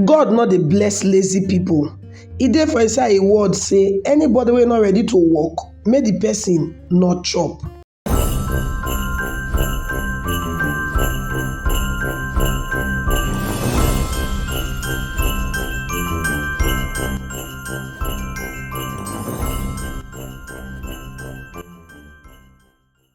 God no dey bless lazy people, e dey for inside im word say anybody wey no ready to work make the person no chop.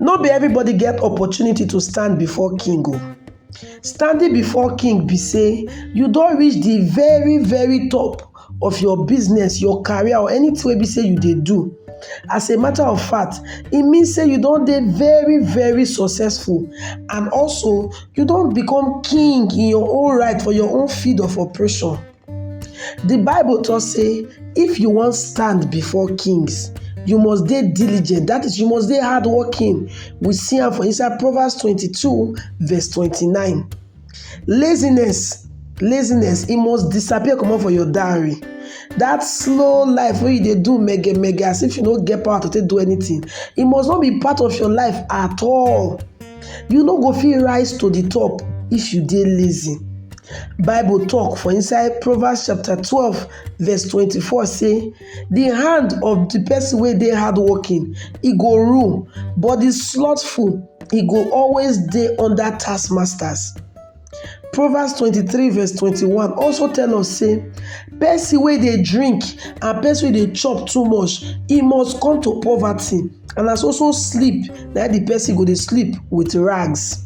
No be everybody get opportunity to stand before king o. Oh. Standing before king be say you don reach the very very top of your business, your career or anything wey be say you dey do. As a matter of fact, e mean say you don dey very very successful and also you don become king in your own right for your own field of operation. The Bible talk say if you wan stand before kings, you must dey diligent. That is, you must dey hardworking. We see am for inside Proverbs 22 verse 29. Laziness, laziness, e must disappear comot for your diary. That slow life wey you dey do mege mege as if you no get power to take do anything, e must not be part of your life at all. You no go fit rise to the top if you dey lazy. Bible talk for inside Proverbs chapter 12 verse 24 say, the hand of the person where they hard working, he go rule, but the slothful, he go always day under taskmasters. Proverbs 23 verse 21 also tell us say, person where they drink and person where they chop too much, he must come to poverty. and na so so sleep na the person go dey sleep with rags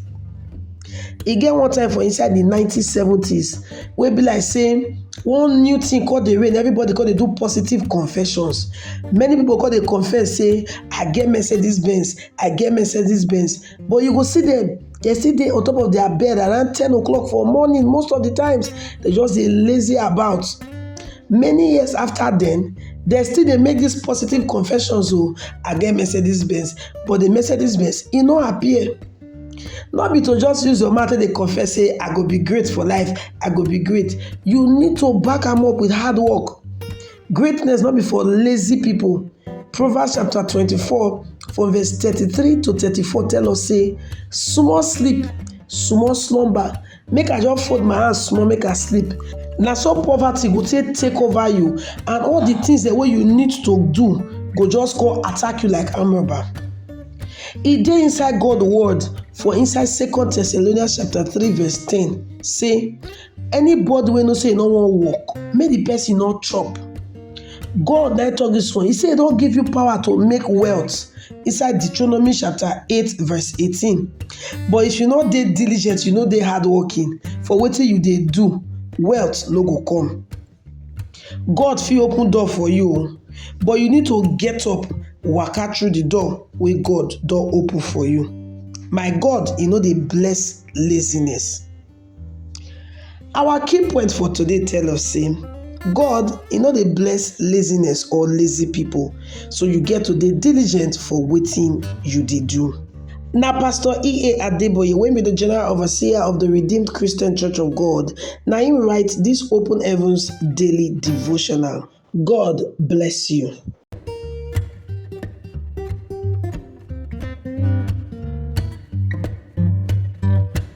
e get one time for inside the 1970s wey be like say one new thing called the rain everybody come dey do positive confessions many people come dey confess say i get mercedes benz i get mercedes benz But you go see them, they still dey on top of their bed around 10 o'clock for morning. Most of the times, they just dey lazy about. Many years after then, they still dey make these positive confessions. Oh, I get Mercedes Benz, but the Mercedes Benz, e no appear. no be to just use your mouth dey confess say i go be great for life i go be great you need to back am up with hard work Greatness no be for lazy people. Proverbs chapter 24 from verse 33 to 34 tell us say small sleep, small slumber, make I just fold my hands small make I sleep. Na so poverty go take take over you and all the things that wey you need to do go just go attack you like arm robber. E dey inside God word for inside second Thessalonians chapter 3 verse 10 say Anybody wey know sey e no wan work, make de person no chop. God na im talk dis one. He say e don give you power to make wealth inside Deuteronomy chapter eight verse eighteen. But if you no dey diligent, you no dey hardworking for wetin you dey do, wealth no go come. God fit open door for you o but you need to get up waka through the door wey God don open for you. My God e no dey bless laziness. Our key point for today tell us sey God e no dey bless laziness or lazy people So you get to dey diligent for wetin you dey do. Na Pastor E.A. Adeboye wey be the General Overseer of the Redeemed Christian Church of God na im write this Open Heavens Daily Devotional. God bless you.